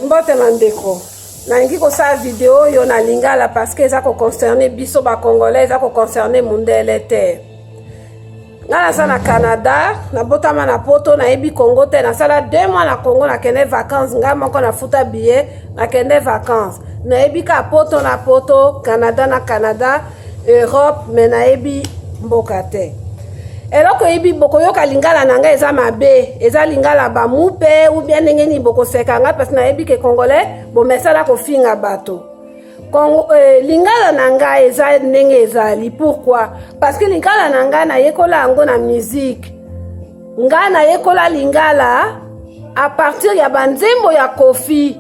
mbote na ndeko nalingi kosala video oyo na lingala parce que eza koconcerne biso bacongolais eza koconcerne mundele te ngai naza na canada nabotama na poto nayebi congo te nasala deux mois na congo nakende vacance ngai moko nafuta billet nakende vacance nayebi ka poto na poto canada na canada Europe mais nayebi mboka te. Eloko yebi bokoyoka lingala na ngai eza mabe, eza lingala ba mupe ou bien ndenge nini bokoseka ngai parce nayebi ke congolais bomesana kofinga bato. Kongo, eh, lingala na ngai eza ndenge ezali pourquoi parce que lingala na ngai nayekola yango na musique ngai nayekola lingala a partir ya banzembo ya kofi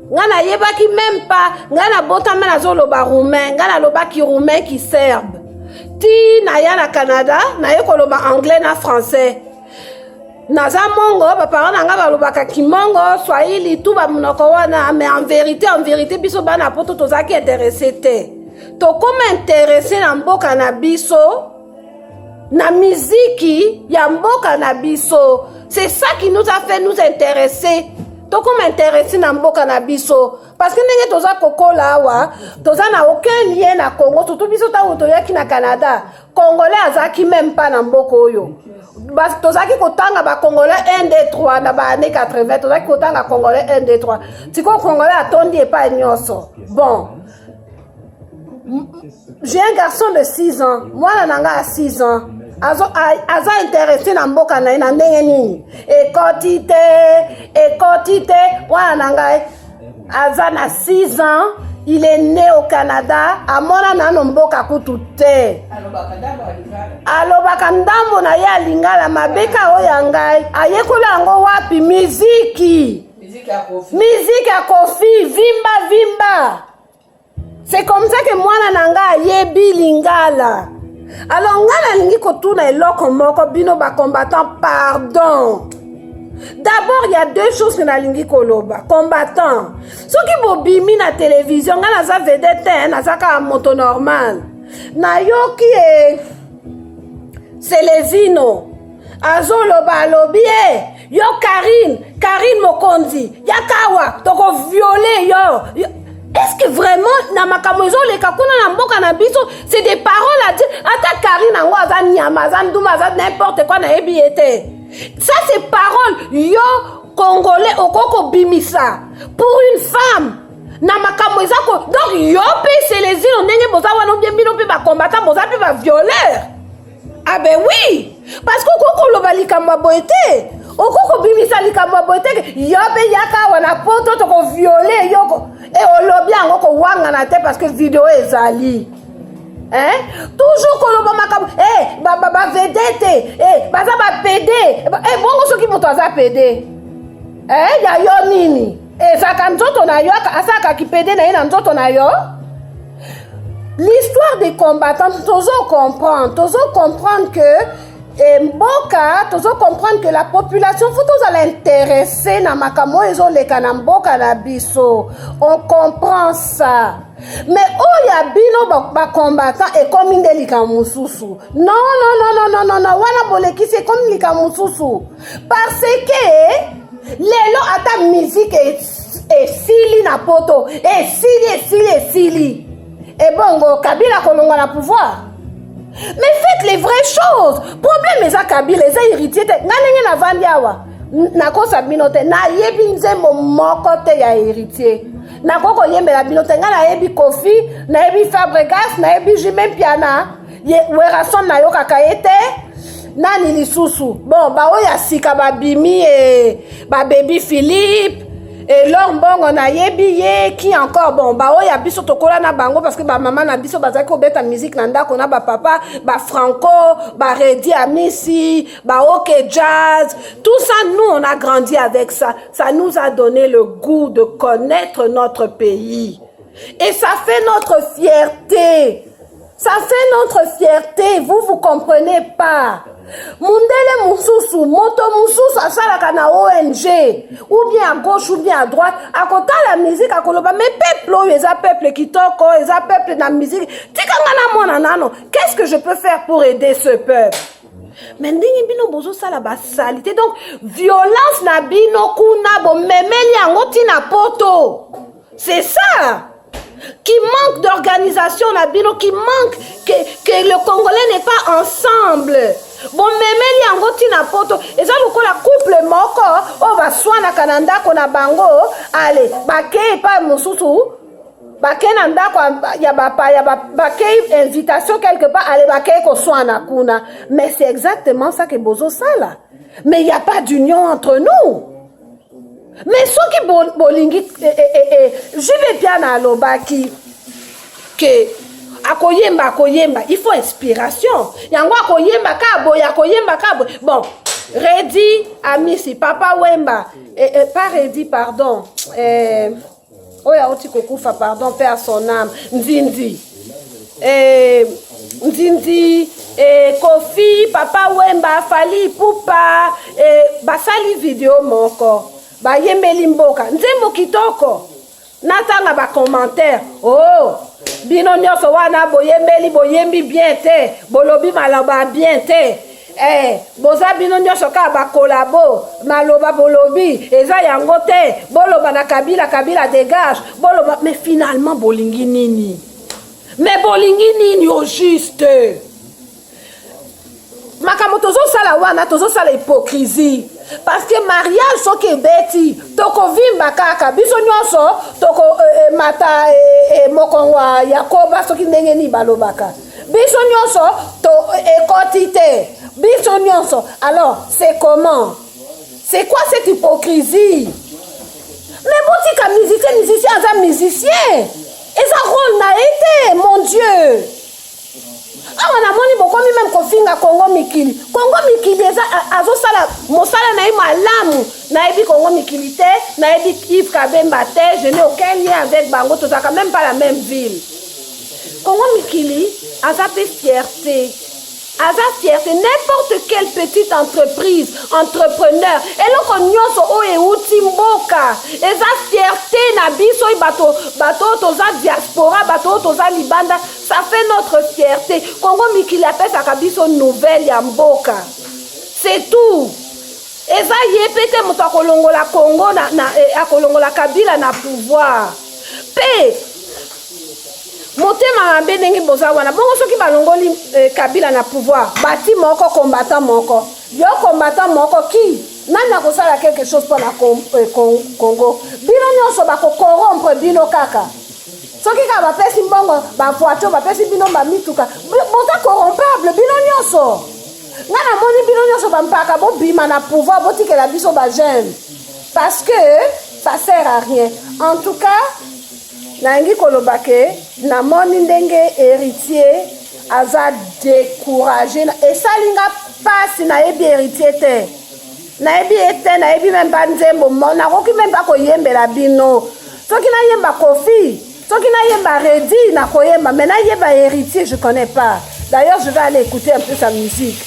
nga nayebaki meme pas nga nabotama nazoloba roumain nga nalobaki roumain ki serbe ti naya na canada naye koloba anglais na français naza mongo baparent na nga balobaka kimongo swahili tu bamonoko wana mais en vérité en vérité biso bana poto tozalaki interesse te tokoma interesse na mboka na biso na miziki ya mboka na biso c'est ça qui nous a fait nous intéresser tokoma interesi na mboka na biso parceke ndenge toza kokola awa toza na aucun lien na congo surtout biso ntango toyaki na canada congolais azalaki meme pas na mboka oyo tozalaki kotanga bacongolais 1 d 3 na baannée 80 tozalaki kotanga congolais 1 d 3 sikoyo congolais atondi epai nyonso bon j'ai un garçon de 6 ans mwana na ngai ya 6 ans aza interese na mboka na ye na ndenge nini ekoti te ekoti te mwana na ngai aza na 6 ans il est né au canada amona nano mboka kutu te alobaka ndambo na ye ya lingala mabe ka oyo ya ngai ayekola yango wapi miziki miziki ya kofi vimba vimba C'est comme ça que mwana na nga ayebi lingala. Alors nga nalingi kotuna eloko moko bino ba combattant pardon. D'abord il y a deux choses que nalingi koloba. Combattant. Soki bobimi na télévision nga naza vedette te, naza kaka moto normal. Nayoki e Celezino azoloba alobi e yo karine karine mokonzi yakawa tokoviole yo, yo. est-ce que vraiment na makambo ezoleka kuna na mboka na biso c'est des paroles à dire ata karine yango aza nyama aza nduma aza n'importe quoi nayebi ye te ça c'est parole yo congolais okoki kobimisa pour une femme na makambo eza ko donc yo mpe selezino ndenge boza wana obie bino mpe bacombatant boza mpe bavioleur ah ben oui parce que okoki koloba likambo ya boye te okoki kobimisa likambo ya boye te yo mpe yaka awa na poto tokoviole yoko e olobi yango kowangana te parce que video ezali Hein? toujours koloba makambo eh, bavedete eh, baza bapede eh, bongo soki moto aza pede eh, ya yo nini ezalaka nzoto na yo asalaka kipede na ye na nzoto na yo l'histoire des combattants tozo comprendre tozo comprendre que eh, mboka tozo comprendre que la population fo tozala interesse na makambo oyo ezoleka na mboka na biso on comprend ça mais oyo ya bino bacombattant ekomi nde likambo mosusu non non non non non non wana bolekisi ekomi likambo mosusu parce que lelo ata musique esili na poto esili esili esili ebongo kabila kolongwa na pouvoir mais faites les vraies choses problème eza kabila eza héritier te nga ndenge navandi awa nakosa bino te nayebi nzembo moko te ya héritier nakoki koyembela bino te ngai nayebi kofi nayebi fabregas nayebi jime mpiana ye werrason nayokaka ye te nani lisusu bon baoyo ya sika babimi e babebi philippe elor mbongo nayebi ye ki encore bon baoyo ya biso tokola na bango parce que bamama na biso bazalaki kobeta musike na ndako na bapapa bafranco baredi amisi baoke jazz tout ça nous on a grandi avec ça ça nous a donné le goût de connaître notre pays et ça fait notre fierté Ça fait notre fierté, vous vous comprenez pas. Mundele mususu, moto mususu asalaka na ONG, ou bien à gauche ou bien à droite, à côté la musique à koloba, mais peuple oyo eza peuple kitoko, eza peuple na musique. Tika nga na mwana nano, qu'est-ce que je peux faire pour aider ce peuple? me ndenge bino bozosala basalite donc violence na bino kuna bomemeli yango ntina poto C'est ça qui manque d'organisation na bino qui manque que, que le congolais n'est pas ensemble bomemeli yango ntina poto eza lokola couple moko oyo baswanaka na ndako na bango ale bakei epai mosusu bakei na ndako ya bapaya bakei invitation quelque part ale bakei koswana kuna mais c'est exactement ça ke bozosala mais il n'y a pas d'union entre nous mais soki bolingi bo eh, eh, eh, eh. juve piana alobaki ke akoyemba akoyemba il faut inspiration yango akoyemba ka boye akoyemba ka boye bon redi amisi papa wemba eh, eh, pas redi pardon eh, oyo auti kokufa pardon mpe a son ame nzinzi eh, nzinzi eh, kofi papa wemba fali pupa eh, basali video moko bayembeli mboka nzembo kitoko natanga bacommentaire o oh, bino nyonso wana boyembeli boyembi bien te bolobi maloba bien te Eh, boza bino nyonso kaka bakolabo maloba bolobi eza yango te boloba na kabila kabila degage boloba mais finalement bolingi nini mais bolingi nini au juste makambo tozosala wana tozosala hypocrisie parce que mariage soki ebeti tokovimba kaka biso nyonso tokomata eh, eh, eh, mokongo ya koba soki ndenge nini balobaka biso nyonso to ekoti te biso nyonso alors c'est comment c'est quoi cette hypocrisie mais botika musicien musicien aza musicien eza role na ye te mon dieu awa namoni bokomi meme kofinga kongo mikili kongo mikili eza azosala mosala na ye malamu nayebi kongo mikili te nayebi ive kabemba te je n'ai aucun lien avec bango tozalaka meme pas la même ville Congo Mikili aza pe fierté aza fierté n'importe quelle petite entreprise entrepreneur eloko nyonso oyo euti mboka eza fierté na biso oyo bato bato oyo toza diaspora bato oyo toza libanda ça fait notre fierté congo mikili apesaka biso nouvelle ya mboka c'est tout eza ye mpe te moto akolongola congo na, na, eh, akolongola kabila na pouvoir mpe motema mabe ndenge boza wana bongo soki balongoli eh, kabila na pouvoir bati moko combattant moko yo combattant moko ki nani akosala quelque chose mpo na eh, congo bino nyonso bakokorompre bino kaka soki kaka bapesi mbongo bavoiture bapesi bino bamituka boza corrompable bino nyonso nga namoni bino nyonso bampaka bobima na pouvoir botikela biso bajeune parce que ça sert à rien en tout cas Nalingi koloba ke namoni ndenge heritier aza decourage esali nga pasi nayebi heritier te nayebi ye te nayebi meme ba nzembo nakoki meme ba koyembela bino soki nayemba kofi soki nayemba redi nakoyemba mais nayeba heritier je connais pas d'ailleurs je vais aller écouter un peu sa musique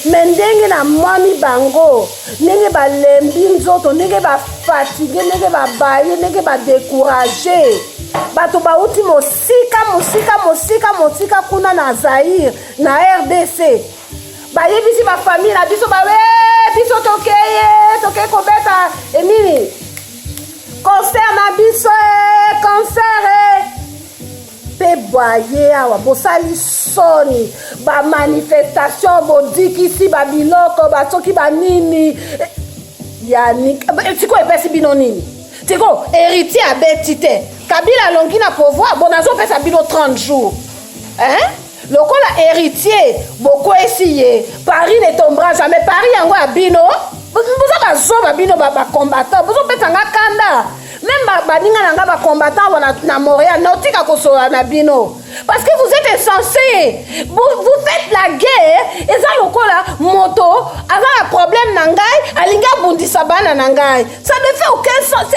mais ndenge namoni bango ndenge balembi nzoto ndenge bafatigue ndenge babaye ndenge badekourage bato bauti mosika mosika mosika mosika kuna na zaire na rdc bayebisi bafamille na biso bawe eh, biso tokeye tokei kobeta enini eh, concert na biso e eh, concert e mpe boye awa bosali soni bamanifestation bodikisi babiloko basoki banini eh, yani eh, sikoyo epesi bino nini sikoyo héritier abeti te kabila alongi na pouvoir bo nazopesa bino 30 jours eh? Lokola heritier bokwesi ye Paris ne tombera jamais Paris yango ya bino boza bazoba bino bacombattant bozopesa nga kanda meme baninga na nga bacombattant awa na montréal naotika kosola na bino parce que vous êtes insensé vous, vous faites la guerre eza lokola moto aza na problème na ngai alingi abundisa bana na ngai ça ne fait aucun sens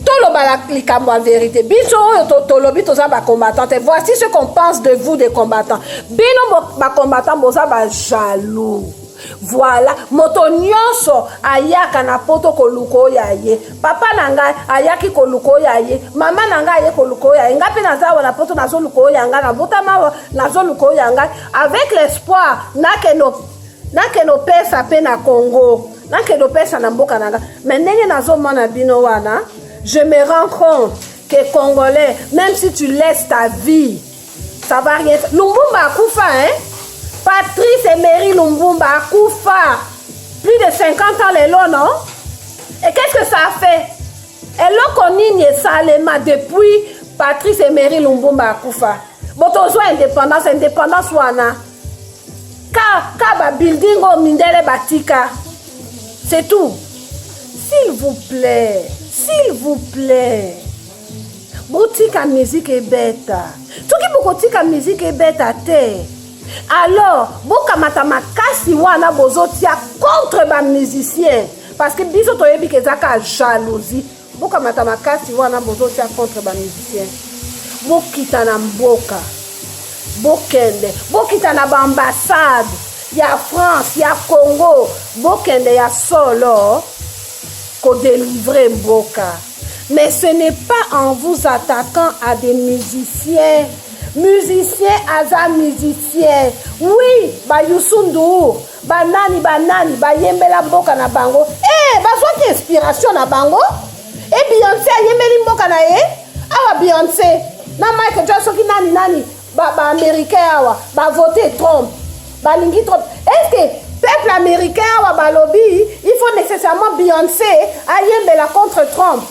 toloba likambo ya verité biso oyo tolobi toza bacombattant te voici ce qu'on pense de vous des combattants bino bacombattant boza bajaloux voilà moto nyonso ayaka na poto koluka oyo ya ye papa na ngai ayaki koluka oyo ya ye mama na ngai aye koluka oyo ya ye ngai mpe naza awa na poto nazoluka oyo ya ngai nabotama awa nazoluka oyo ya ngai avec l'espoir nakende nakende opesa mpe na congo nakende opesa na mboka na nga me ndenge nazomona bino wana je me rends compte que congolais même si tu laisses ta vie ça va rien lumbumba akufa hein patrice emery lumbumba akufa plus de 50 ans lelo non et qu'est ce que ça fait eloko nini esalema depuis patrice emery lumbumba akufa bo tozwa indépendance indépendance wana ka ka ba building oyo mindele batika c'est tout s'il vous plaît s'il vous plaît botika miziki ebeta soki bokotika miziki ebeta te alors bokamata makasi wana bozotia contre bamusicien parce que biso toyebi ke eza ka jalousie bokamata makasi wana bozotia contre bamusicien bokita na mboka bokende bokita na baambassade ya france ya congo bokende ya solo kodelivre mboka mais ce n'est pas en vous attaquant à des musiciens musicien aza musicien oui bayusundur banani banani bayembela mboka na bango eh, bazwaki inspiration na bango e eh, beyonce ayembeli mboka na ye awa beyonce na mike ja soki nani nani baaméricain ba awa bavote trump balingi trump estce peuple américain awa balobi il faut nécessairement beyonce ayembela contre trump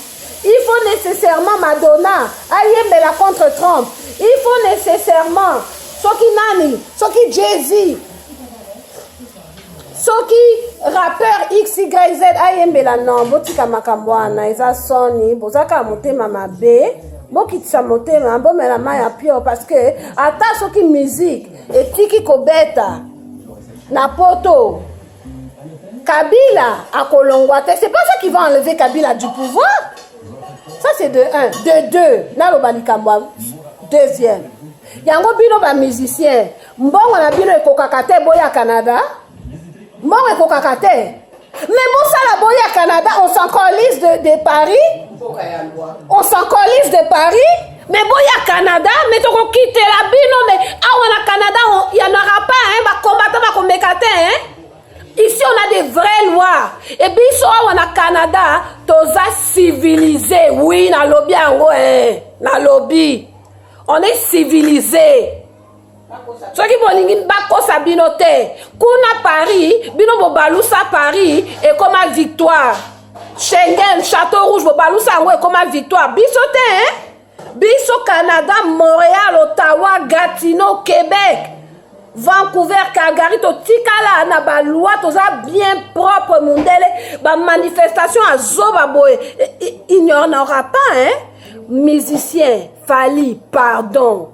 il faut nécessairement madonna ayembela contre trump il faut nécessairement soki nani soki jay-z soki rappeur xyz ayembela non botika makambo wana eza soni bozaka motema mabe bokitisa motema bomela mai ya pio parce que ata soki musique etiki kobeta na poto kabila akolongwa te c'est pas ça qui va enlever kabila du pouvoir ça c'est de un de deux naloba likambo deuxième yango bino bamusicien Mbongo na bino ekokaka te boya Canada. Mbongo ekokaka te. Mais bosala boya Canada, on s'en colise de, de Paris. On s'en colise de Paris. Mais boya Canada, mais toko quitter la bino, mais awa na Canada, il y en aura pas, hein, ba combattant, ba combattant, hein. Ici, on a des vraies lois. Et puis, ici, on a Canada, toza civilisé. Oui, na lobby, hein. Na lobby. On est civilisé. soki bolingi bakosa bino te kuna paris bino bobalusa paris ekoma victoire schengen chateau rouge bobalusa yango ekoma victoire biso te hein? biso canada montréal ottawa gatineau québec vancouver calgary totikala na baloi toza bien propre mondele bamanifestation azoba boye il n'y en aura pas hein musicien fali pardon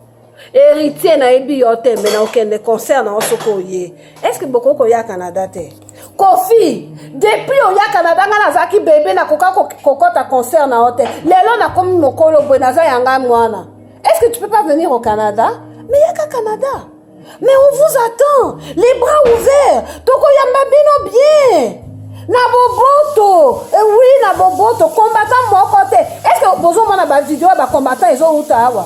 héritier nayebi yo te me na okende concert na yo soki oye estce bokoki koya canada te kofi depuis oya canada ngai nazalaki bebe nakoka kokɔta concert na yo te lelo nakomi mokolo boye naza ya ngai mwana estce tu peux pas venir au canada me yaka canada mais on vous attend les bras ouverts tokoyamba bino bien na boboto eh oui na boboto combattant moko te estce bozomona bavideo ya bacombattant ezowuta awa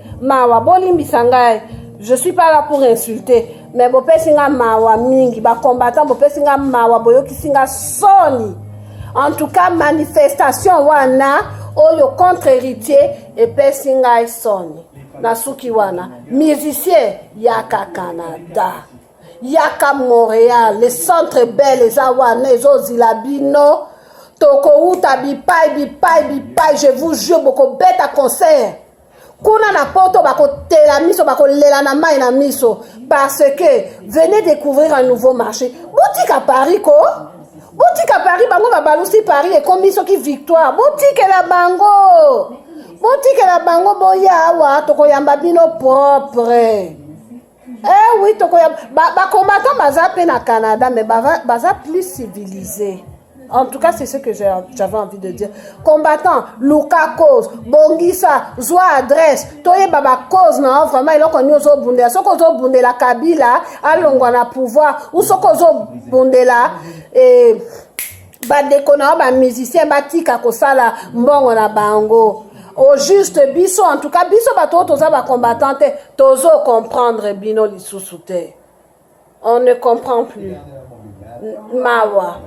mawa bolimbisa ngai je suis pas là pour insulter mais bopesi nga mawa mingi bacombattant bopesi nga mawa boyokisi nga soni en tout cas manifestation wana oyo contre héritier epesi ngai soni nasuki wana musicien yaka canada yaka montréal le centre bel eza wana ezozila bino tokowuta bipai bipai bipai je vous jure bokobeta concert kuna na poto bakotela miso bakolela na mai na miso parce que venez découvrir un nouveau marché botika paris ko botika paris bango babalusi paris ekomi soki victoire botikela bango botikela bango boya awa tokoyamba bino propre Eh oui, toko ya ba, ba combattants baza pe na Canada mais baza, baza plus civilisés. En tout cas, c'est ce que j'avais envie de dire. Combattant, Luka cause, Bongisa, Zwa adresse, Toye Baba cause, non, vraiment, il a connu Ozo Bundela. Ce qu'on Ozo Bundela Kabila, Alongwana pouvoir, ou ce qu'on Ozo Bundela, et. bandeko na yo bamusicien batika kosala mbongo na bango au juste biso en tout cas biso bato oyo toza bacombattant te tozo comprendre bino lisusu te on ne comprend plus mawa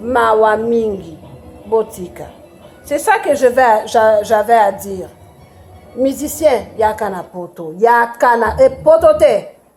mawa mingi botika c'est ça que je vais j'avais à dire musicien yaka na poto yaka na e poto te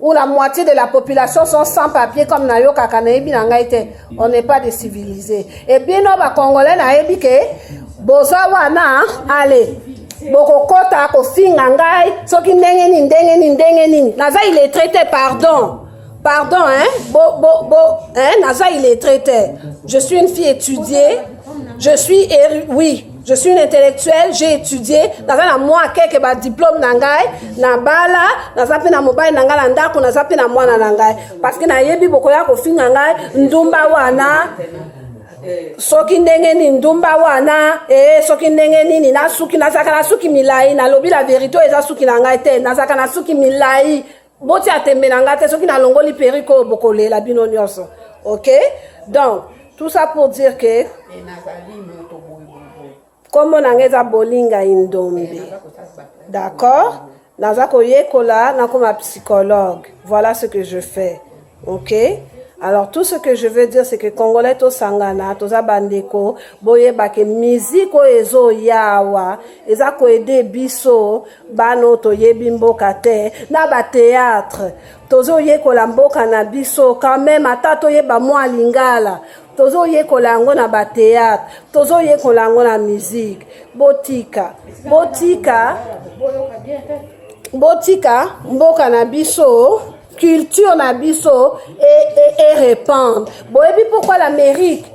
ou la moitié de la population sont sans papier comme nayo kaka nayebi na ngai te on n'est pas des civilisés et bino bacongolais nayebi ke boza wana ale bokokota kofinga ngai soki ndenge nini ndenge nini ndenge nini naza iletre te pardon pardon hein bo bo bo hein naza iletre te je suis une fille étudiée je suis oui je suis une intellectuelle j'ai étudié naza na mwa keke badiplome na ngai nabala naza mpe na mobali na ngai na ndako naza mpe na mwana na ngai parce que nayebi bokoya kofinga ngai ndumba wana soki ndenge nini ndumba wana ee soki ndenge nini nasuki nazalaka na suki milai nalobi la verité oyo eza suki na ngai te nazalaka na suki milai boti atembe na nga te soki nalongoli perike oyo bokolela bino nyonso ok donc tout ça pour dire que nkombo na nga eza bolinga indombe d'accord naza koyekola nakoma psychologue voilà ce que je fais ok alors tout ce que je veux dire c'est que congolais tosangana toza bandeko boyeba ke musique oyo ezoya awa eza koede biso bana oyo toyebi mboka te na bateatre tozoyekola mboka na biso quand même ata toyeba mwa lingala tozoyekola yango na bateatre tozoyekola yango na musique botika botika botika mboka na biso culture na biso erepandre e, e boyebi pourquoi l'amérique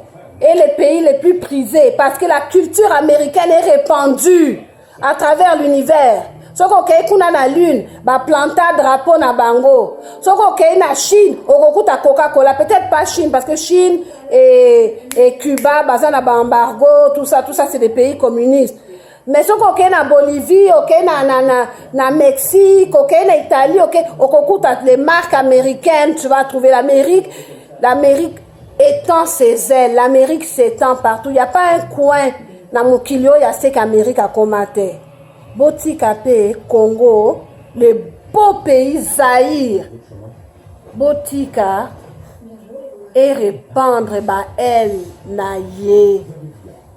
est le pays le plus prisé parce que la culture américaine est répandue à travers l'univers soki okei kuna na lune baplanta drapeau na bango soki okei na chine okokuta coca cola peut-être pas chine parce que chine et, et cuba baza na baembargo tout ça tout ça c'est des pays communistes mais soki okei na bolivie okei na, na, na, na mexique okei na italie okei okokuta les marques américaines tu vas trouver l'amérique l'amérique étend ses ailes l'amérique s'étend partout il n'y a pas un coin na mokili oyo aseki amérique akoma te botika mpe congo le beau pays zaïre botika erepandre baele na ye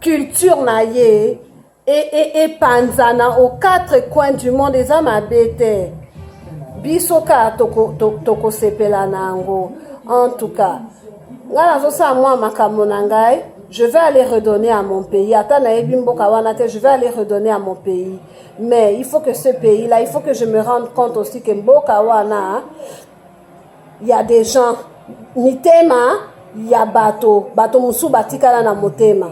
culture na ye epanzana e, e aux quatre coins du monde eza mabe te biso kaka tokosepela toko na yango en tout cas ngai nazosala mwa makambo na ngai je vais aller redonner à mon pays ata nayebi mboka wana te je vais aller redonner à mon pays mais il faut que ce pays là il faut que je me rende compte aussi que mboka wana ya des gens mitema ya bato bato mosusu batikala na motema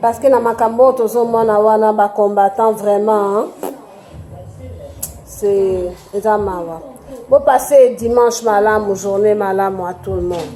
parce que na makambo oyo tozomona wana bacombattant vraiment c'est eza mawa bopasse dimanche malamu journée malamu à tout le monde